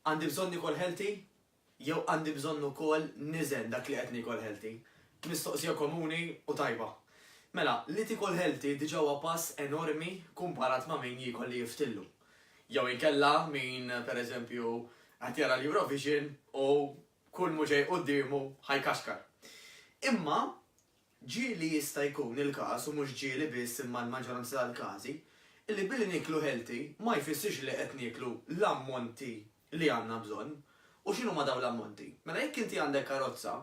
Għandi bżonn nikol healthy? Jew għandi bżonn ukoll niżen dak li qed nikol healthy? Mistoqsija komuni u tajba. Mela, li tikol healthy diġà huwa pass enormi kumparat ma' min jiekol li jiftillu. Jew inkella min, per eżempju, qed jara l-Eurovision u kull m'hu ġej quddiemu ħa jkaxkar. Imma Ġieli jista' jkun il-każ, u mhux ġieli biss imma l-maġġoranza tal-każi, li billi nieklu healthy ma jfissirx li qed nieklu l-ammonti li għandna bżonn. U x'inhuma dawn l-ammonti? Mela jekk inti għandek karozza,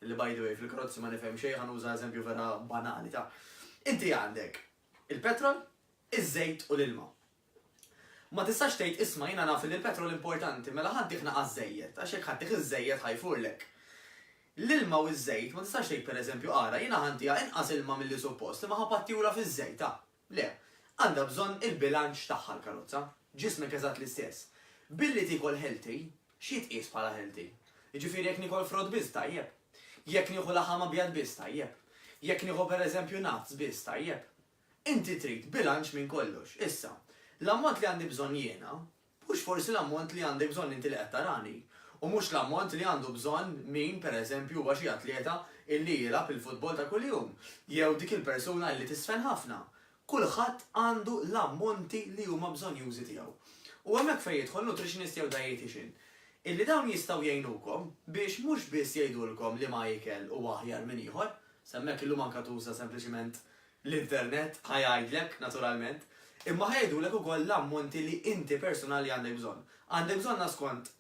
li by the way fil-karozzi ma nifhem xejn, ħa nuża eżempju vera banali ta', inti għandek il-petrol, iż-żejt u l-ilma. Ma tistax tgħid isma' jiena naf li l-petrol importanti mela ħa ddih naqas żejjed għax jekk ħa ddih iż-żejjed ħa jfurlek. L-ilma u ż-żejt ma tistax tgħid pereżempju ara jiena ħa ntiha inqas ilma milli suppost imma ħa pattihulha fiż-żejt ah. Le. Għandha bżonn il-bilanċ tagħha l-karozza. Ġismek eżatt l-istess. Billi tiekol healthy, x'jitqies bħala healthy? Jiġifieri jekk niekol frott biss tajjeb. Jekk nieħu laħam abjad biss tajjeb. Jekk nieħu pereżempju nuts biss tajjeb. Inti trid bilanċ minn kollox. Issa, l-ammont li għandi bżonn jiena, mhux forsi l-ammont li għandek bżonn inti li qed tarani, u mhux l-ammont li għandu bżonn min, per eżempju, huwa xi atleta illi jilgħab il-futbol ta' kuljum, jew dik il-persuna illi tiżfen ħafna. Kulħadd għandu l-ammonti li huma bżonnjużi tiegħu. U hemmhekk fejn jidħol nutritionist jew dietician, illi dawn jistgħu jgħinukom biex mhux biss jgħidulkom liema ikel huwa aħjar minn ieħor, s'hemmhekk illum anke tuża sempliċiment l-internet ħa jgħidlek, naturalment, imma ħa jgħidulek ukoll l-ammonti li inti persunali għandek bżonn. Għandek bżonnha skont,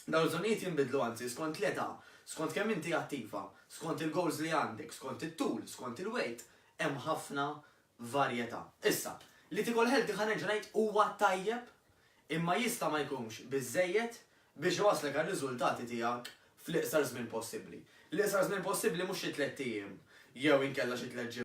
dawn il-bżonnijiet jinbidlu anzi, skont l-età, skont kemm inti attiva, skont il-goals li għandek, skont it-tul, skont il-weight, hemm ħafna varjetà. Issa, li tiekol healthy ħa nerġa' ngħid huwa tajjeb imma jista' ma jkunx biżżejjed biex iwasslek għar-riżultati tiegħek fl-iqsar żmien possibbli. L-iqsar żmien possibbli mhux xi tlett ijiem jew inkella xi tliet ġimgħat.